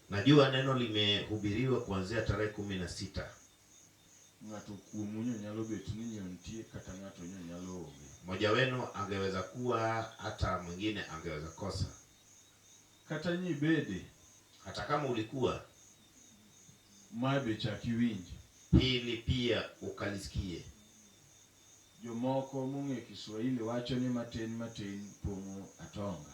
Najua neno limehubiriwa kuanzia tarehe kumi na sita. Ng'ato kuomu nyalo bet ni nitie kata ng'ato nyalo onge. Mmoja wenu angeweza kuwa hata mwingine angeweza kosa. Kata nyi bede. Hata kama ulikuwa. Mae be chak iwinje. Hili pia ukalisikie. Jomoko mong'e Kiswahili wacho ni matin matin pong'o atonga.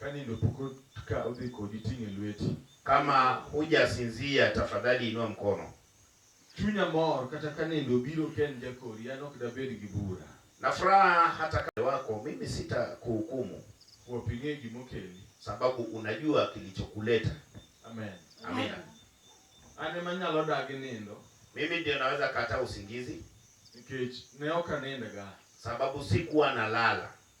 Ka nindo pok otka odhi kodi ting' e lweti. Kama huja sinzia tafadhali inua mkono. Chunya mor kata ka nindo obiro ka en jakori an ok dabed gi bura. Na furaha hata kama wako mimi sita kuhukumu. Kwop ing'e gima okeli. Sababu unajua kilichokuleta. Amen. Amina. An ema anyalo dagi nindo. Mimi ndio naweza kataa usingizi. Nikech ne ok anindga. Sababu sikuwa nalala.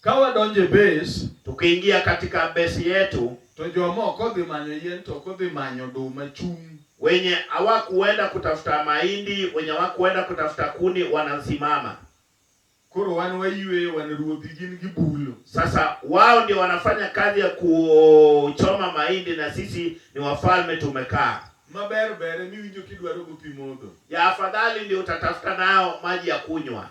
Ka wadonjo e base, tukiingia katika base yetu, to jomoko odhi manyo yien to ok odhi manyo oduma chung'. wenye hawakuenda kutafuta mahindi, wenye hawakuenda kutafuta kuni wanasimama. Koro wan wayweyo, wan ruodhi, gin gibulo. Sasa wao ndio wanafanya kazi ya kuchoma mahindi na sisi ni wafalme tumekaa. Maber ber emiwinjo kidwaro gopi modho. Ya afadhali ndio utatafuta nao maji ya kunywa.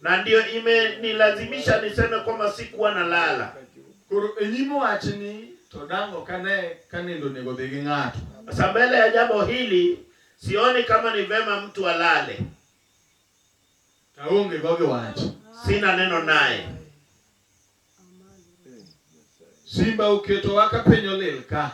na ndio imenilazimisha niseme kwamba sikuwa nalala. Koro enyimo wachni to dang' ok ane ka nindo onego odhi gi ng'ato. Sasa mbele ya jambo hili sioni kama ni vema mtu alale, Taonge go gi wach. sina neno naye. Simba uketo waka penyo lil ka.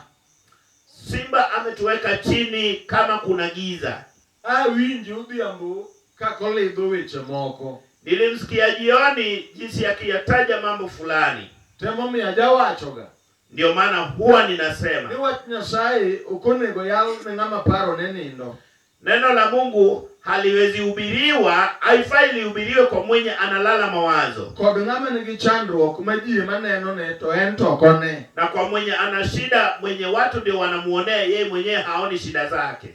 Simba ametuweka chini kama kuna giza. Awinji udhiambo kakolidho weche moko. Nilimsikia jioni jinsi akiyataja mambo fulani. Temo mi ajawachoga. Ndio maana huwa ninasema. Ni wach Nyasaye okonego yal ne ng'ama paro ne nindo. Neno la Mungu haliwezi hubiriwa, haifai lihubiriwe kwa mwenye analala mawazo, kod ng'ama nigi chandruok ma ji ema nenone to en to ok one. na kwa mwenye ana shida, mwenye watu ndio wanamuonea, yeye mwenyewe haoni shida zake.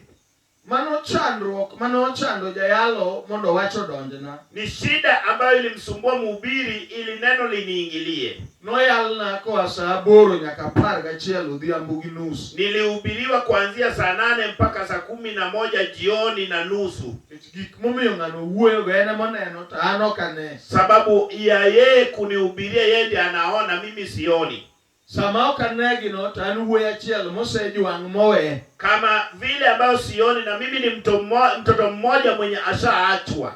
Mano chandruok mane ochando jayalo mondo wach odonjna. Ni shida ambayo ilimsumbua mhubiri ili neno liniingilie. Noyalna koa saa aboro nyaka apar gachiel odhiambo gi nus. Nilihubiriwa kuanzia saa nane mpaka saa kumi na moja jioni na nusu. Nikech gik momiyo ng'ano wuoyogo en ema oneno to an ok ane. Sababu ya yeye kunihubiria yeye ndiye anaona, mimi sioni. Sama ok anegino to an wuoyi achiel mosejwang' mowe. Kama vile ambayo sioni na mimi ni mto mmo, mtoto mmoja mwenye ashaachwa.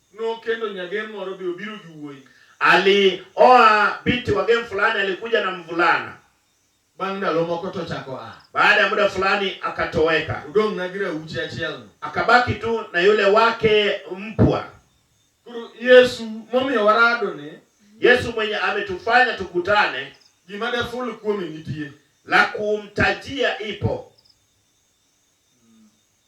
No kendo nyagem moro be obiro gi wuoyi. Alioa binti wagem fulani alikuja na mvulana. Bang' ndalo moko tochako a. Baada ya muda fulani akatoweka. Udong' na gi rauchi achiel no. Akabaki tu na yule wake mpwa. Koro Yesu momiyo warado ni. Yesu mwenye ametufanya tukutane. Gima daful kuome nitie. La kumtajia ipo.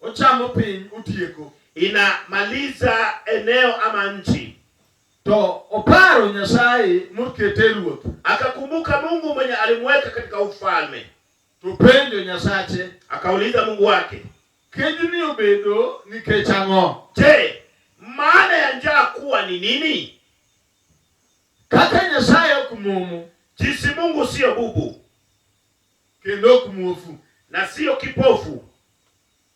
Ochamo piny, otieko. Inamaliza eneo ama nchi. To oparo Nyasaye mokete ruoth. Akakumbuka Mungu mwenye alimweka katika ufalme. To penjo Nyasache. Akauliza Mungu wake. Kejni obedo nikech ang'o? Je, maana ya njaa kuwa ni nini? Kaka Nyasaye ok mumu. Jinsi Mungu sio bubu. kendo ok muofu na sio kipofu.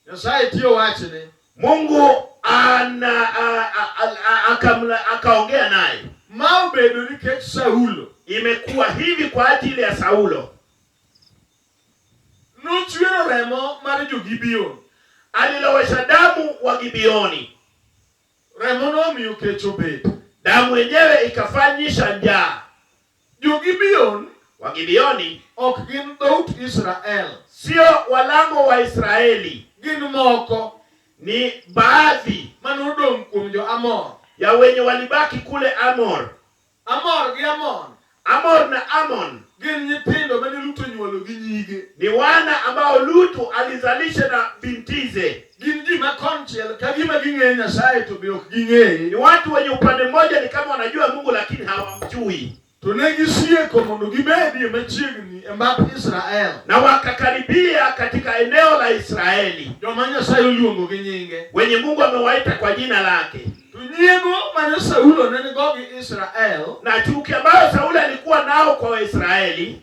Nyasaye tiyo wachne. Mungu ana a- a- a- a- akamla- akaongea naye. Ma obedo nikech Saulo Imekuwa hivi kwa ajili ya Saulo, nochwero remo mar jo-Gibeon. alilowesha damu wa Gibeoni, Remo nomiyo kech obedo. damu yenyewe ikafanyisha njaa. Jo-Gibeon, Wagibeoni, ok gin dhout Israel. Sio walango Waisraeli. Gin moko. Ni baadhi. Ma nodong' kuom jo-Amor. Ya wenye walibaki kule Amor. Amor gi Amon. Amor na Amon. Gin nyithindo mane Lut onyuolo gi nyige. Ni wana ambao Lutu alizalisha na bintize. Gin ji ma konchiel ka gima ging'eyo Nyasaye to be ok ging'eye. Ni watu wenye upande mmoja ni kama wanajua Mungu lakini hawamjui. To ne gisieko mondo gibedie machiegni e mbap Israel. Na wakakaribia katika eneo la Israeli. Joma Nyasaye oluongo gi nyinge. Wenye Mungu amewaita kwa jina lake. To nyiego mane Saulo ne nigo gi Israel. Na chuki ambayo Saulo alikuwa nao kwa Waisraeli.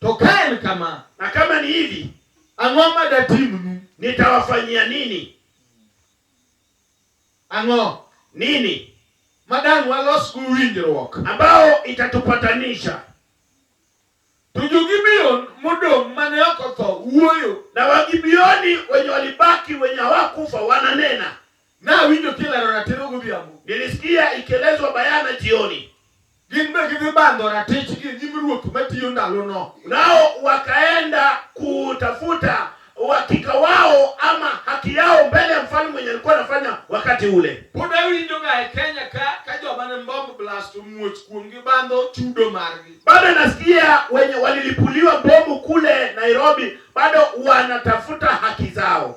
To ka en kama, na kama ni hivi, ang'o ma datimnu? nitawafanyia nini? Ang'o Nini ma dang' walosgo winjruok? ambao itatupatanisha? To jo-Gibeon modong' mane ok otho wuoyo. Na Wagibioni wenye walibaki, wenye hawakufa wananena, Na winjo kilero ratiro godhiambo. Nilisikia ikielezwa bayana jioni. Gin be gidhi bandho ratich gi nyim ruoth matiyo ndalono. Nao wakaenda kutafuta uhakika wao ama haki yao mbele ya mfalme mwenye alikuwa anafanya wakati ule. Pod awinjoga e Kenya ka ka joma ne bomb blast omuoch kuomgi bandho chudo margi. Bado nasikia wenye walilipuliwa bomu kule Nairobi bado wanatafuta haki zao.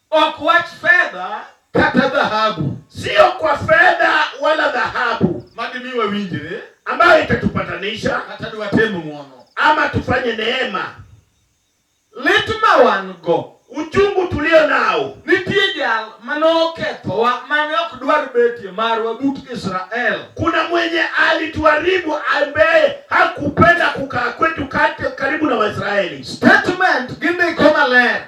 Ok wach fedha kata dhahabu, sio kwa fedha wala dhahabu, madimi wawinjire, ambayo itatupatanisha kata diwatemu mwono, ama tufanye neema. Lit ma wan go, uchungu tulio nao, nitie jal mane okethowa mane ok dwar betie marwa but Israel, kuna mwenye alituharibu ambaye hakupenda kukaa kwetu kati karibu na Waisraeli. Statement gindiko maler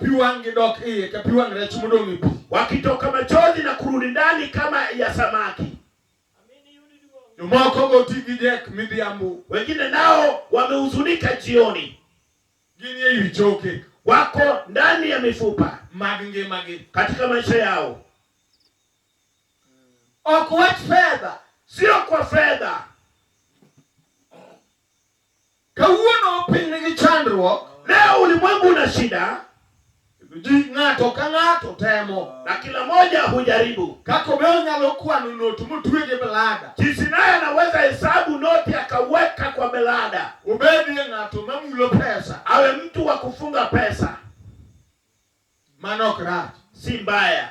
pi wang' gidok iye ka pi wang' rech modong' e pi, wakitoka machozi na kurudi ndani kama ya samaki. Jomoko go ti gi dek midhiambo, wengine nao wamehuzunika jioni, gin e wi choke, wako ndani ya mifupa mag ngimagi katika maisha yao, ok wach fedha, sio kwa fedha Kawuono piny nigi chandruok. Leo ulimwengu una shida. Ji ng'ato ka ng'ato temo. Na kila moja hujaribu. Kaka be onyalo kwano noti motwe gi blada. Jinsi naye anaweza hesabu noti akaweka kwa blada. Ubedie ng'ato mamulo pesa. Awe mtu wa kufunga pesa. Mano ok rach. Si mbaya.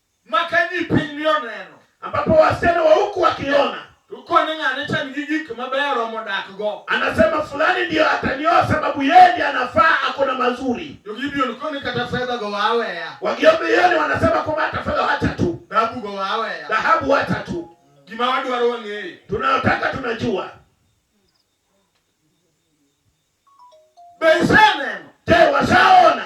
maka ni piny ni oneno ambapo wasichana wa huku wakiona uko ni ng'ane chan gi gik mabeyo romo dak go anasema fulani ndiyo atanioa sababu yeye ndiye anafaa ako na mazuri to gibion ko ni kata fedha go waweya wagiombioni wanasema kwamba hata fedha wacha tu dhahabu go waweya dhahabu wacha tu gima wadwaro wang'eyo tunayotaka tunajua be iseneno je washaona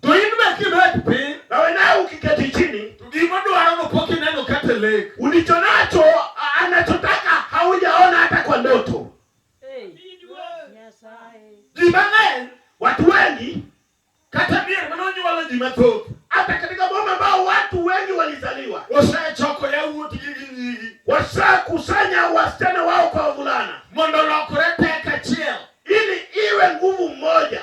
To in be kibet piny. Nawe nawe ukiketi chini. To gima dwaro no pok ineno kata lek. Ulicho nacho anachotaka haujaona hata kwa ndoto. Hey. Ji mang'eny, watu wengi kata mier mane onyuolo ji mathoth hata katika boma ambao watu wengi walizaliwa, wasechoko yawuotgi gi nyigi, wasekusanya wasichana wao kwa wavulana, mondo olokre tek achiel, ili iwe nguvu mmoja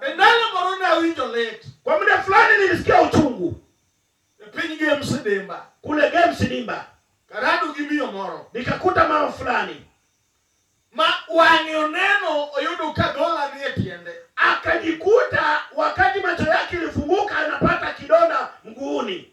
Endalo moro ne awinjo lit. Kwa muda fulani nilisikia uchungu. E piny Game Sidimba. Kule Game Sidimba. Karado gi miyo moro. Nikakuta mama fulani. Ma wang'e oneno oyudo ka dola ni e tiende. Akajikuta wakati macho yake ilifunguka anapata kidonda mguuni.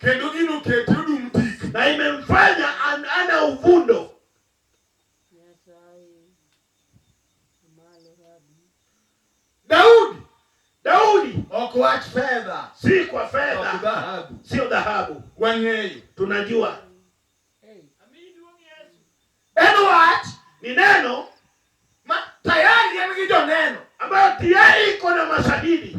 kendo gino kete odum tik, na imemfanya an, ana uvundo. Daudi Daudi ok wach fedha, si kwa ok fedha, dhahabu. sio dhahabu. Wang'eyo Tunajua en wach ni neno ma tayari en gi joneno ambayo tayari iko na mashahidi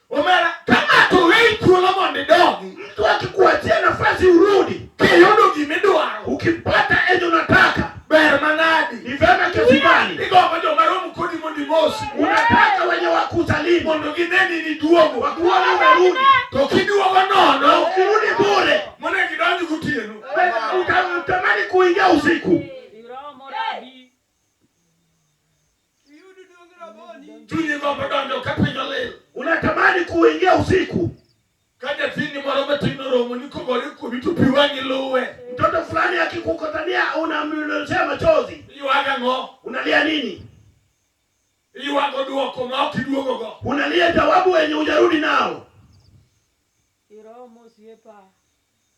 Omera, ka ng'ato oweyi thuolo mondo idongi, mtu akikuachia nafasi urudi, kiyudo gima idwaro, ukipata enye unataka, ber manadi. ni vema kiasi gani Igombo joma romo kodi mondo imosi, unataka wenye wakusalimu mondo gineni niduogo. wakuone umerudi, To kiduogo na nono, ukirudi bure, monego idonj gotieno. uta- utamani kuingia usiku. Chunyi gombo donjo ka piny olil. Unatamani kuingia usiku. Ka nyathini moro matin oromo ni kogore kuomi to pi wang'i luwe. Mtoto fulani akikukutania unamnyunyizia machozi. Iywago ang'o? Unalia nini? Iywago dwoko ma ok iduogogo. Unalia jawabu wenye hujarudi nao. Iromo osiepa.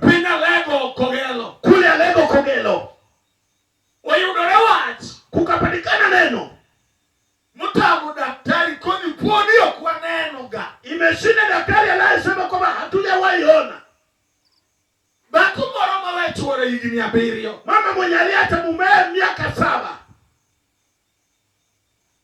Piny Alego Kogelo. Kule Alego Kogelo. Oyudore wach. Kukapatikana neno. Mtamu daktari koni pwoni ok waneno ga. Imeshinda daktari anayesema kwamba hatujawahi ona. Dhako moro ma we chwore higni abiriyo. Mama mwenye aliacha mumewe miaka saba.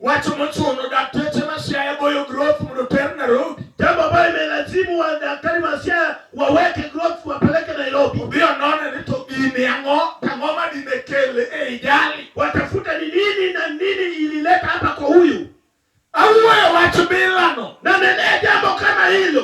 Wacho mochuno, dakteche ma Siaya goyo growth mondo ter Nairobi. Jambo ambayo imelazimu wa daktari wa Siaya waweke growth wapeleke Nairobi. Odhi onone ni to gini ang'o tang'o ma dine kele ei jali. Watafuta ni nini na nini ilileta hapa kwa huyu. Awuoyo wach bilano. Na nenee jambo kama hilo.